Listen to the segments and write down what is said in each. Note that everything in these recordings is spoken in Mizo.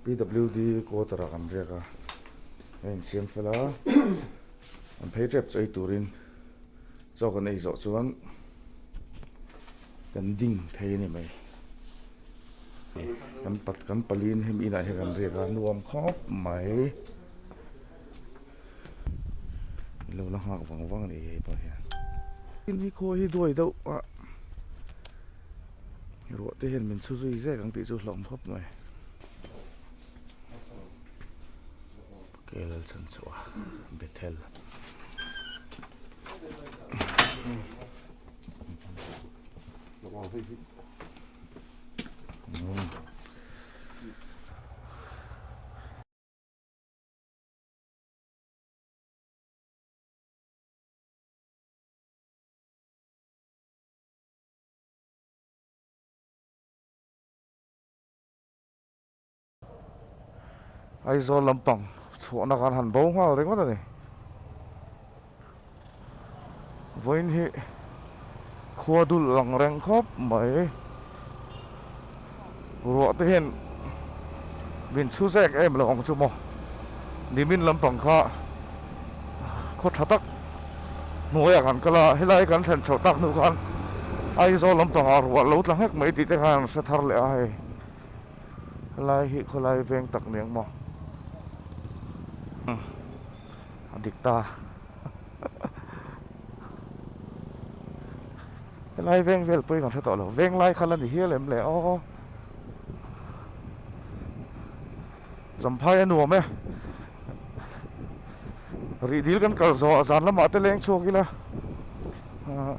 pwd quota ah kan riak a a in siam fel a an phei tep chu ei turin chaw kan ei zawh chuan kan ding thei a ni mai kan pat kan pali in hemi inah hian kan riak a nuam khawp mai. lo la nghak vang vang ni hei pawh hian in hi khawi hi duai deuh a ruah te hian min chhu zui zek ang tih chu hlawm khawp mai kel chhan chhuah a bethel Aizawl lampang chhuahna kan han bo nghal ringawt a ni. Vawiin hi khua dulh lang reng khawp mai. Ruah te hian min chhu zek em lo ang chu maw. Nimin lampang kha khaw tha tak hnuaiah kan kal a, helai kan thlen chhoh tak hnu khan Aizawl lampangah ruah lo tla nghek mai tih te khan an hre thar leh a hei. Helai hi khawlai veng tak ni ang maw. Umm. a dik ta a helai veng vel pawhin ka hre tawh lo veng lai kha la ni hial em le aw champhai a nuam e rih dil kan kal zawh a zan lamah te leng chhuak ila ah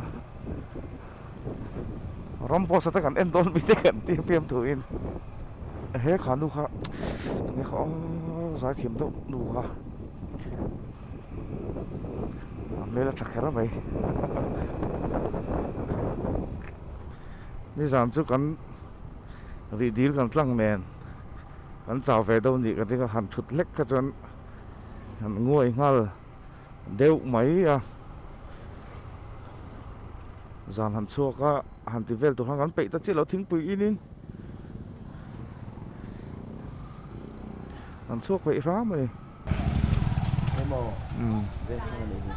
ram pawh sat a kan en dawn mi te kan tih a fiam thu in he kha nu kha tunge kha aww zai thiam deuh nu kha a hmel a tha kher a mai nizan chu kan rih dil kan tlang nen kan chau ve deuh ni ka ti kha han thut hlek kha chuan han nguai nghal. Deuh mai a, zan han chhuak a, han ti vel tur khan kan peih ta chiah lo thingpui in in, han chhuak peih hram a ni. Emaw, Vengthlang a nih hi.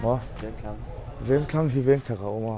Maw? Vengthlang. Vengthlang hi Vengchhak a awm a.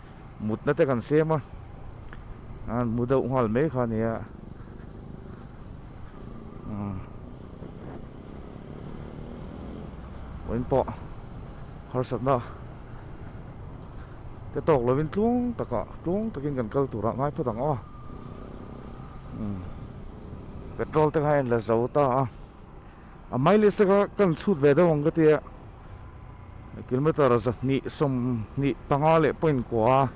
mutna te kan sem a an mu deuh nghal mai kha nia umm pawiin pawh harsatna te tawk lovin tlung takah tlung takin kan kal turah ngai phawt ang aw umm petrol te kha en la zo ta a. A hmai leh sek a kan chhut ve deuh ang ka ti a, kilometre zahnih sawmhnih panga leh point kua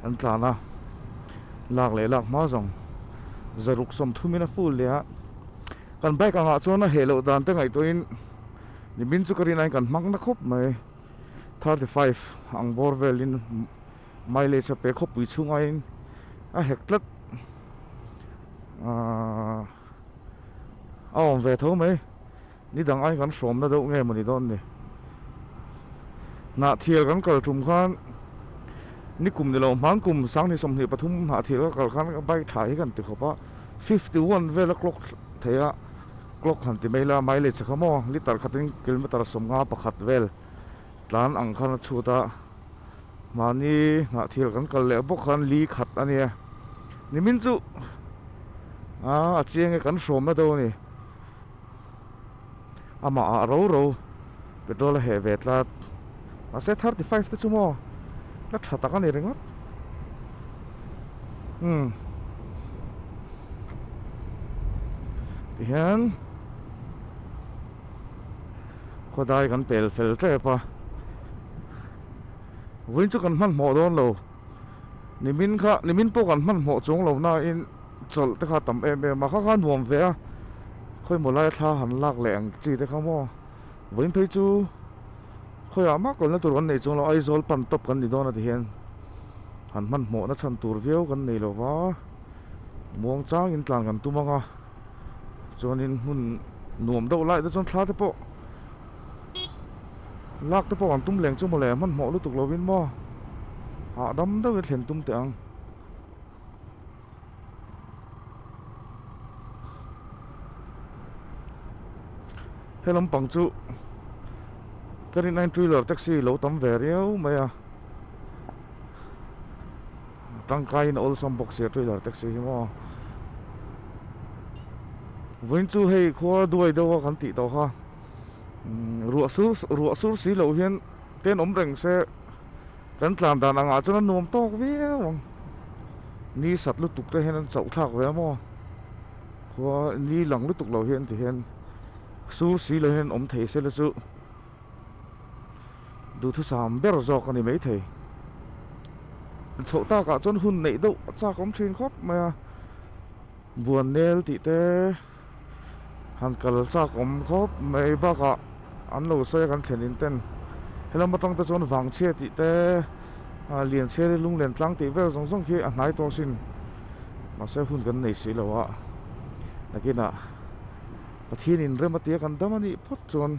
an tlan a, lak leh lak hma zawng zaruk sawm thumin a full nia, kan bike angah chuan a heh loh dan te ngaihtuahin nimin chu ka rin ain kan hmang na khawp mai, thirty five ang bawr velin mileage-a pe khawpui chhung aiin a hek tlat aah. a awm ve tho mai ni dang ain kan hrawm na deuh nge mawni dawn ni hnah thial kan kal tum khan ni kum nilo hmang kum sang ni sawmhnih pathum hnah thial ka kal khan bike tha hi kan ti khawp a fifty one vela clock thei a clock han ti mai la mileage a kha maw litre khatin kilometre sawmnga pakhat vel. Tlan ang khan a chhut a, mahni hnah thil kan kal leh bawk khan li khat a nia. Nimin chu aa a chiang e kan hrawm na deuh a ni. Amah ah ro ro petrol a heh ve tlat. Mahse thirty five te chu maw la tha tak a ni ringawt. Umm. Tihian. khawdai kan pel fel tep a vawin chu kan hmanhmawh dawn lo nimin kha nimin pawh kan hmanhmawh chawng lo nain chawlh te kha a tam em em a kha kha a nuam ve a khawi maw lai a thla han lak leh ang chi te kha maw vawin phei chu khawi ah mak awlna tur kan nei chawng lo Aizawl pan top kan ni dawn a ti hian han hmanhmawhna chhan tur viau kan nei lo va muang changin tlan kan tum ang a. chuan in hmun nuam deuh laih te chuan thla te pawh lak te pawh an tum leng chu mawle a hmanhmawh lutuk lo in maw hahdam deuh in thlen tum teh ang he lampang chu ka rin ain trailer taxi lo tam ve riau mai a Tangkain a awlsam bawk sia trailer taxi hi maw. Vawiin chu hei khua duai deuh a kan tih tawh kha. Ruah sur ruah sur si loh hian ten awm reng se kan tlan dan ang ah chuan a nuam tawk viau ang. Ni sat lutuk te hian an chauh thlak ve maw. Khua ni lang lutuk lo hian ti hian sur si lo hian awm thei se la chu. Duhthusam ber zawk a ni maithei. Chhoh takah chuan hun neih deuh a chak awm thin khawp mai a. Buan nel tih te han kal chak awm khawp mai bakah an lo sawi a kan thlen in ten. Helam atang te chuan vang chhia tih te, lian chhia lunglen tlang tih vel zawng zawng khi a hnai tawh sin. Mahse hun kan nei si lo a, nakinah Pathian inrem atia kan dam a nih phawt chuan.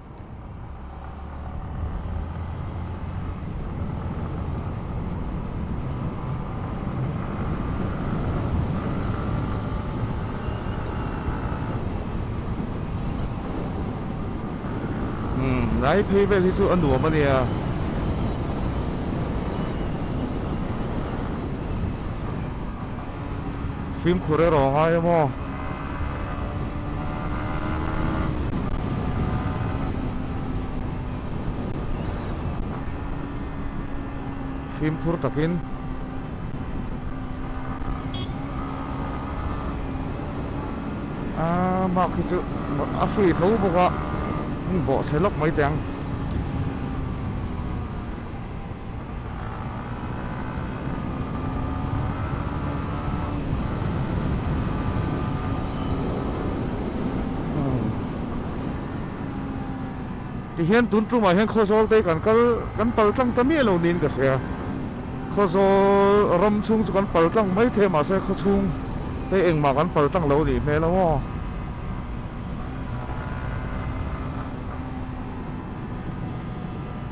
Hnai phei vel hi chu a nuam a nia. fimkhur erawh a ngai emaw? Fimkhur takin ah mark hi chu a free tho bawk a bawhchhe lawk mai teh ang. Tihian tun tumah hian khaw zawl te kan kal kan pal tlang ta miah lo niin ka hria a, khaw zawl ram chhung chu kan pal tlang maithei mahse khaw chhung te engmah kan pal tlang lo nih hmel a maw.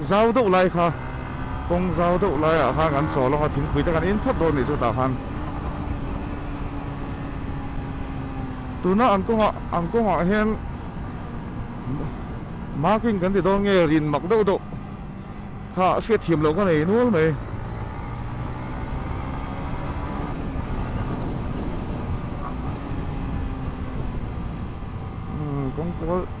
Zau deuh lai kha kawng zau deuh laiah khan kan chaw lawk a, thingpui te kan in phawt dawn a nih chutah khan tuna an kawngah an kawngah hian marking kan ti dawn nge rin mak deuh deuh kha a hriat thiam loh ka nei nual mai. Umm kawngkual.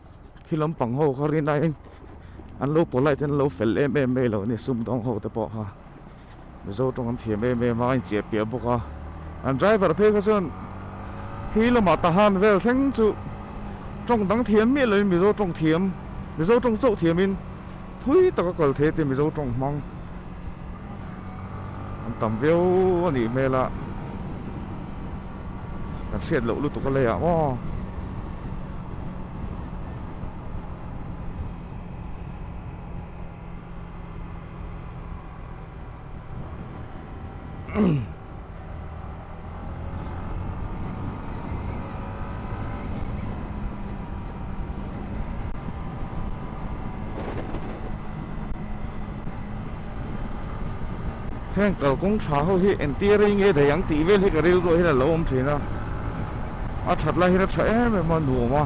khi lampang ho kha rin aiin an lo polite an lo fel em em mai lo a ni a sumdawng ho te pawh kha mizo tawng an thiam em em a a incheh piah bawk a an driver phei kha chuan khi lamah ta han vel thleng chu tawng dang thiam miah loin mizo tawng thiam mizo tawng chauh thiam in Thui taka kal thei te Mizo tawng hmang an tam viau a nih hmel a, kan hriat loh lutuk a lei ah maw? Umm. heng kalkawng tha ho hi entir a inge thei ang tih vel hi ka rilruah hian a lo awm thin a a that lai hian a tha em em a nuam a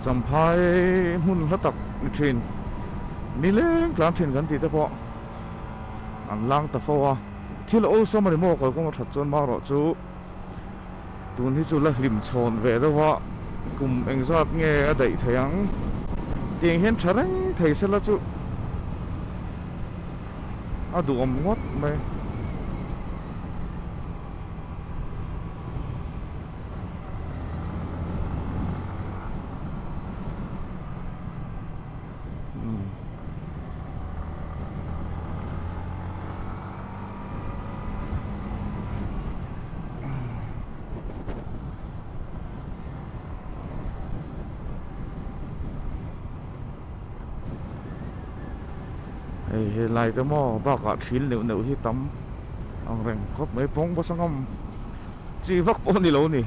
champha hi hmun hla tak ni thin ni leng tlang thin kan tih te pawh. an lang ta fo a, thil awlsam a ni maw kalkawng a that chuan marawh chu tun hi chu la hlim chhawn ve deuh a, kum engzat nge a daih thei ang tiang hian tha reng thei se la chu a duhawm ngawt mai. hei helai te maw bakah ṭhil neuh neuh hi tam angreng khawp mai pawngbawk sa ngam. Chi vak pawh ni lo ni.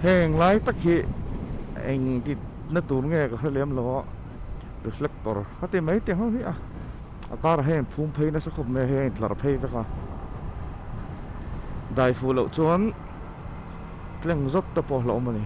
Heng lai tak hi eng tih na tur nge ka hre lem lo a reflector ka ti mai teh ho hi a a kar ah hian in phum phei nasa khawp mai a hei a in tlar phei vek a dai fuh loh chuan tleng zawt te pawh a hlauh a ni.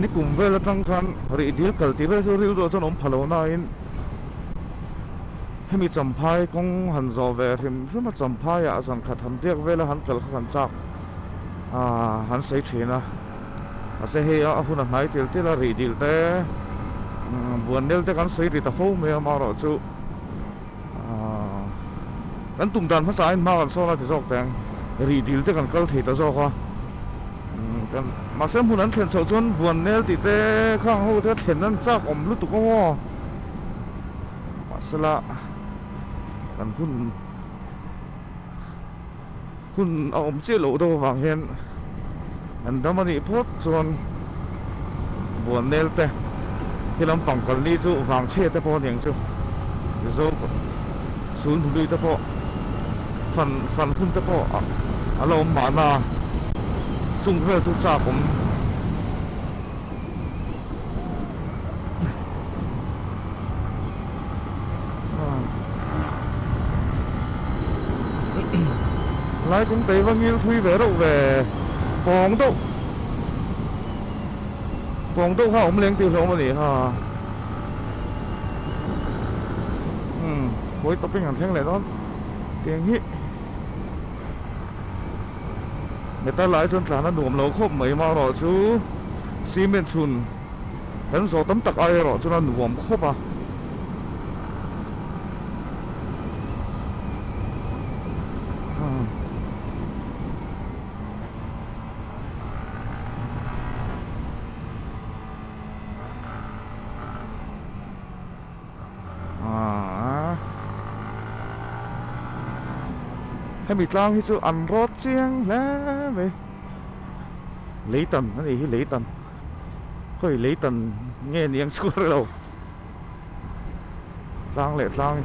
Nikum vel atang khan rih dil kal tih vel chu rilruah chuan awm pha lo nain hemi Champhai kawng han zawh ve hrim hrim a, Champhaia a zan khat han biak vela han kal kha han chak aaa han sawi thin a, mahse hei a hun a hnai tel tel a rih dil te umm buan nel te kan sawi ri ta fo mai a amaherawhchu. Kan tum dan hmasa in hma kan sawn a ti zawk teng rih dil te kan kal thei ta zawk a kan mahse hmun an thlen chhoh chuan vuan nel tih te kha ang ho te a thlen an chak awm lutuk a maw mahsela kan hun hun a awm chiah loh deuh avang hian an dam a nih phawt chuan buahnel te khi lampang kal ni chu vangchhe te pawh aniang chu Mizo Sul hnu lui te pawh fan fan hun te pawh a lo awm mahna chung vel chu chak awm. Lai kum tei va ngil thui ve reuh ve. Pawng deuh pawng deuh kha awm leng tih hlawm a ni ha. Umm khawi tawpin kan thleng leh dawn tiang hi. Heta lai chuan tlan a nuam lo khawp mai marawh chu cement chhun kan zawh tam tak ai erawh chuan a nuam khawp a. Hemi tlang hi chu an road chiang hle mai lei tan a nih hi lei tan khawi lei tan nge ni ang chhuah relo tlang leh tlang i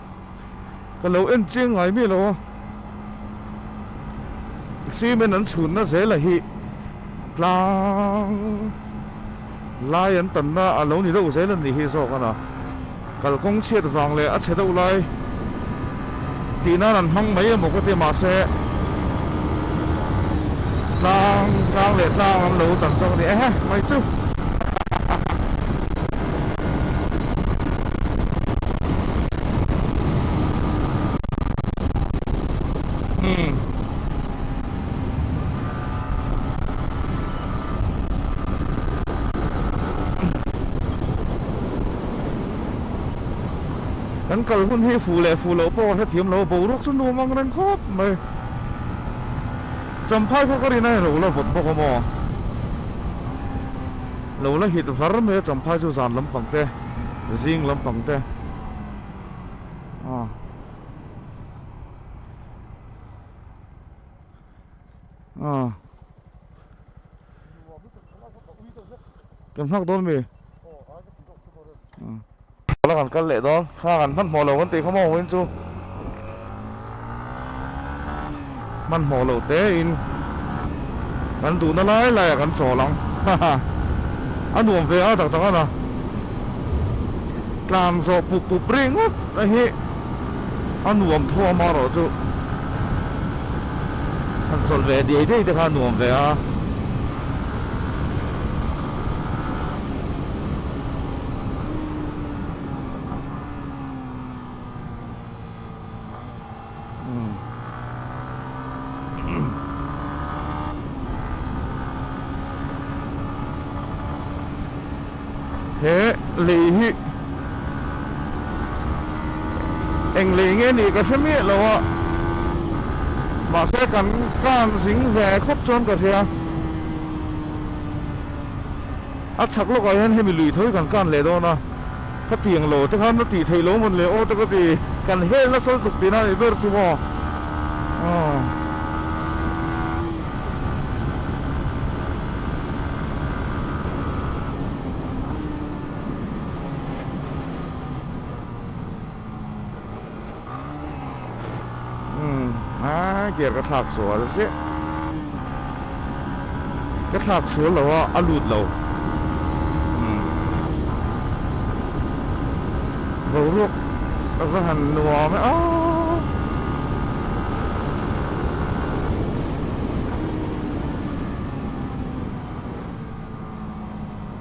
Ka lo en chiang ngai mi lo a, cement an chhunna zela hi tlang lai an tanna a lo ni deuh zel a nih hi zawk a na. Kalkawng chhiat vang leh a chhe deuh lai tih nan an hmang mai emaw ka ti mahse tlang tlang leh tlang an lo tan zawk a ni. Ehe mai chu! kan kal hun hi fuh leh fuh loh pawh ka hrethiam lo a boruak chu nuam ang reng khawp mai champhai kha ka rin a in ro la vawt bawk a maw. Lo la hit var mai a Champhai chu zan lampang te zing lampang te ah ah kan nghak dawn mi ah. Tawlh a kan kal leh dawn. Khang an hmanhmawh lo kan tih kha maw win chu hmanhmawh lo tein kan duhna lai lai a kan chawl ang haha a nuam ve a tak tak a na tlan zawh pup pup ringawt a hi a nuam thuam a rawh chu han chawlh ve diai diai te kha a nuam ve a. He lei hi eng lei nge nih ka hre miah lo a, mahse kan kan zing ve khawp chuan ka hria. A chhak lawkah hian hemi lui thawi kan kan leh dawn a, khatiang lo te khan va tih theih lo vun leh aw te ka ti, kan hel nasal tuk tihna a nih ber chu maw aw. Gear ka thlak sual se. Ka thlak sual lo a, a lut lo. Boruak a va han nuam e a.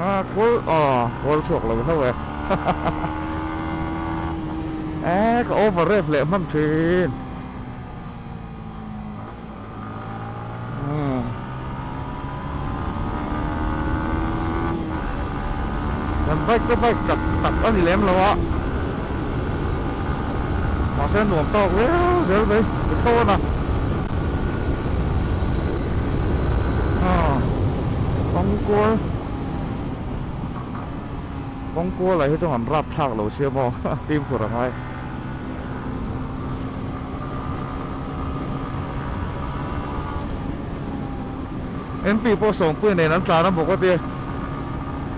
Aa kawl aw kawl chhuak lo hlo e Eee ka over rev leh hman thin umm Kan bike te bike chak tak a ni lem lo a Mahse nuam tawk viau zel mai ka tho a na. Haa Kawngkual Kawngkual ah hi chuan an rap thlak lo sia maw Fimkhur a ngai MP pawh sawmpui nen an tlan a bawk a tia.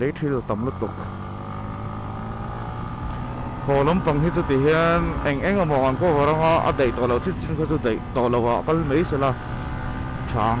lei thil a tam lutuk haw lampang hi chuti hian eng eng amaw kan cover ang a a daih tawh loh chip chin kha chu daih tawh loh ah kal mai se la chhang.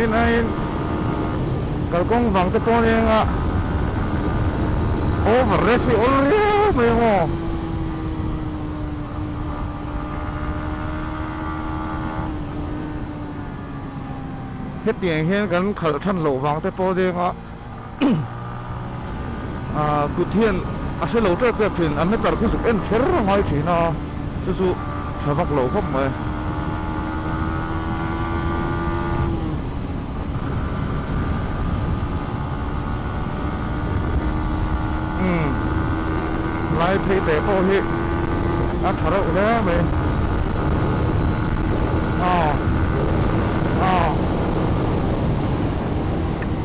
Rin aiin kalkawng vang te pawh enga over race hi awlh riau mai ang aw. Hetiang hian kan khalh than loh vang te pawh enga. Ahh kut hian a hre lo tep tep thin, an meter khu zuk en kher a ngai thin a, chu chu tha vak lo khawp mai. Umm lai phei te pawh hi a tha reuh hle mai. Ahh ahh.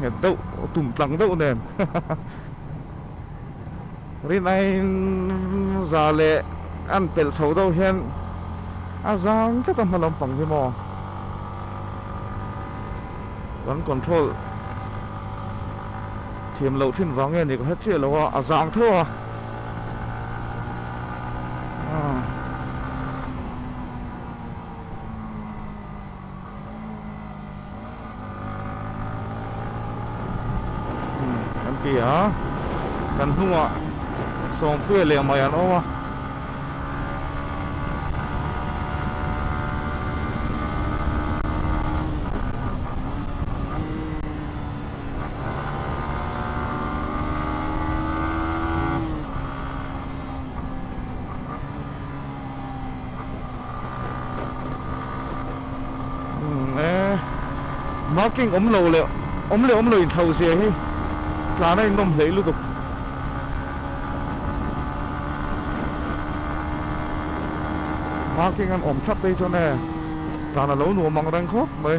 nghet deuh tum tlang deuh nen hahaha rin a in za leh a in pelh chho deuh hian a zang tlat a hma lampang hi maw kan control thiam loh thin vang nge ni ka hre chiah lo a a zang theuh a. kan ti a kan hnungah sawmpui leh mai an awm a marking om lo le om le om lo in thau zia hi tlana in nawm hlei lutuk marking an om thlap phei chuan e tlana lo nuam ang reng khawp mai.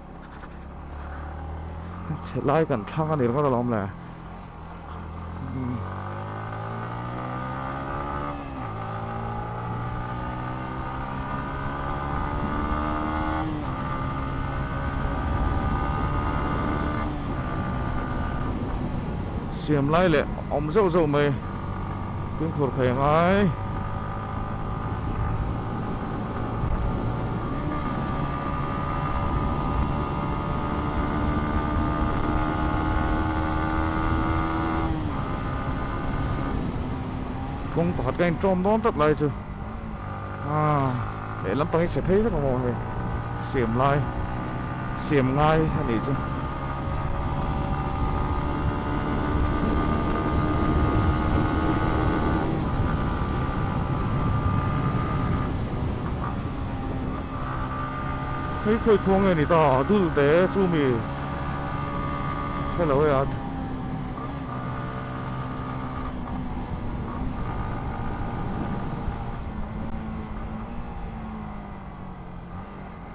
chelai kan thlang anih rawh alawm le siam lai leh awm zeuh zeuh mai pingkhur phei ngai. kawng pakhat ka intawm dawn tlat lai chu a lehlam pangin se phei vek a maw hei siam lai. Siam ngai a nih chu. Hei khawi khaw nge ni ta a dul te chu mi hello ya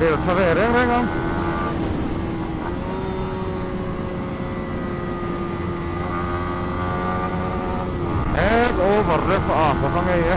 Bel tha ve reng reng ang. Hek over ref a ah bawk a ngei e.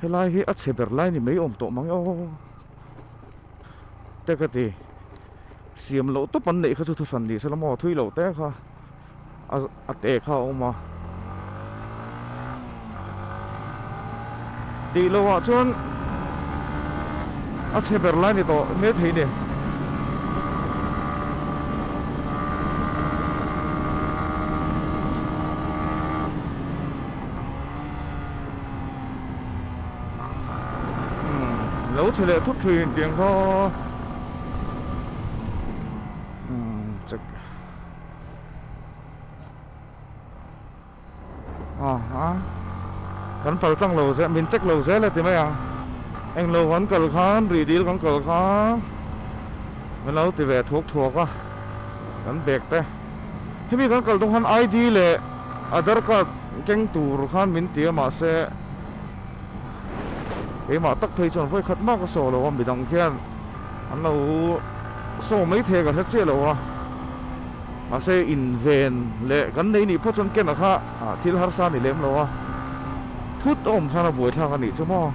helai hi a chhe ber lai ni mai awm tawh mang e aw teka ti siam loh tawp an neih kha chu thu hran ni se lam aw thui lo te kha a a te kha a awm a tih lo ah chuan a chhe ber lai ni tawh mai thei ni lo chhe leh thup thin kiang kha aha kan kal tlang lo zel min check lo zel a ti mai ang eng lo kan kal khan rih dil kan kal kha min lo ti ve thuak thuak a kan bag te hemi kan kal tung khan id leh Aadhar card keng tur khan min ti a mahse keimah tak phei chuan vawi khat mak a saw lo a midang khian an lo saw mai thei ka hre chiah lo a mahse inven leh kan nei nih pawh chuan kena kha thil harsa a ni lem lo a phut a awm khan a buai thlak a nih chu maw.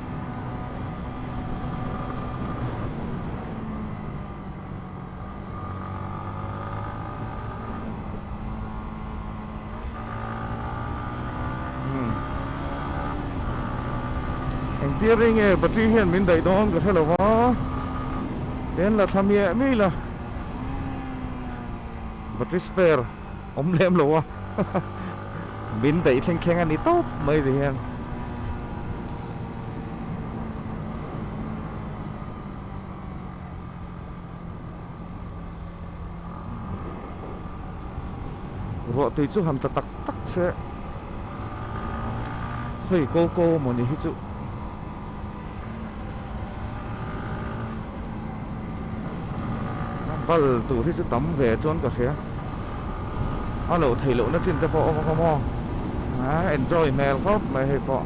Engtir ri nge patri hian min daih dawn ka hre lo va, ken la thla miah miah ila battery spare awm lem lo a min daih thleng thleng a ni tawp mai ri hian. ruah tui chu ham ta tak tak che khawi ko ko maw ni hi chu bal tur hi chu tam ve chuan ka hria a lo thei lohna chin te pawh awm ang aw maw a enjoy hmel khawp mai hei pawh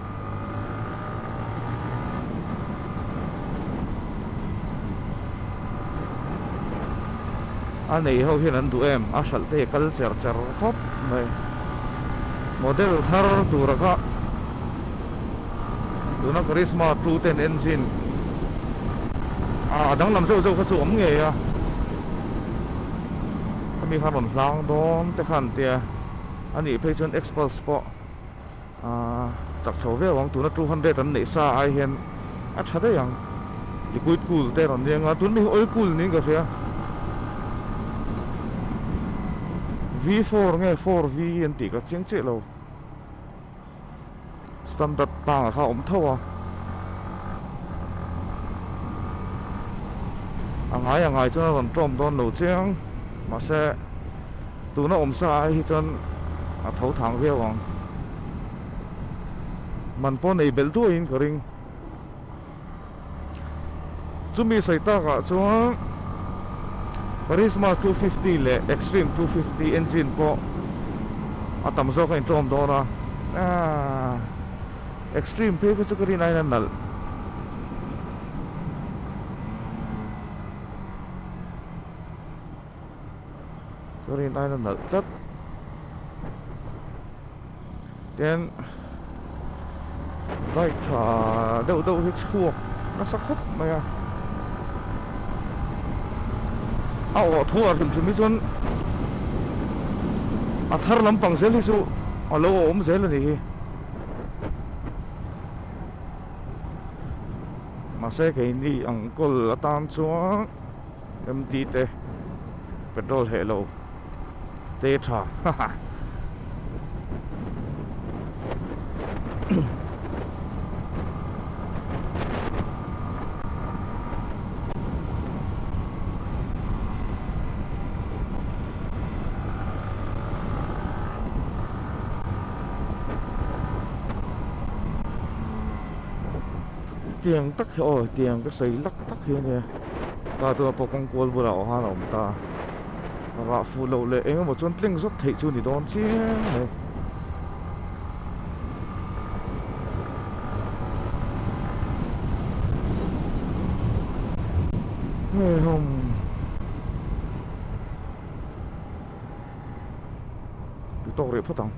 A neih ho hian an duh em? A hralhte hi kal cher cher khawp mai. Model thar tura kha tuna Karisma two ten engine a danglam zeuh zeuh kha chu awm ngei a. Khami kha rawn hlang dawn te kha an tia. Anih phei chuan X-Pulse pawh. Chak chho viau ang tuna two hundred an neih sa ai hian a tha daih ang liquid cool te a rawn ni anga tun mai hi oil cool niin ka hria V four nge four V an tih ka chiang chiah lo standard tang ah kha a awm tho a a ngai a ngai chuan a rawn tawm dawn lo chiang mahse Tuna awm sa hi chuan a tho thang viau ang. Man pawh nei belh duai in ka ring. Chumi sawi tak ah chuan Karisma two fifty leh Xtreme two fifty engine pawh a tam zawk a intlawm dawn a. Aaa Xtreme phei kha chu ka rin aiin a nalh. turin aina nalh tlat tin bike tha deuh deuh hi chhuak nasa khawp mai a a awh thu a hrim hrim hi chuan a thar lampang zel hi chu a lo awm zel a ni hi mahse kei ni ang kawl atan chuan Empty te petrol heh lo te tha haha tiang tak hi aw tiang ka sawi lak tak hi a nia. Ka tuna pawh kawngkual bulah aw han a awm ta a rah fuh loh leh eng emaw chuan tleng zawt theih chu ni dawn chiang mai hei hawm tawk reh phawt ang.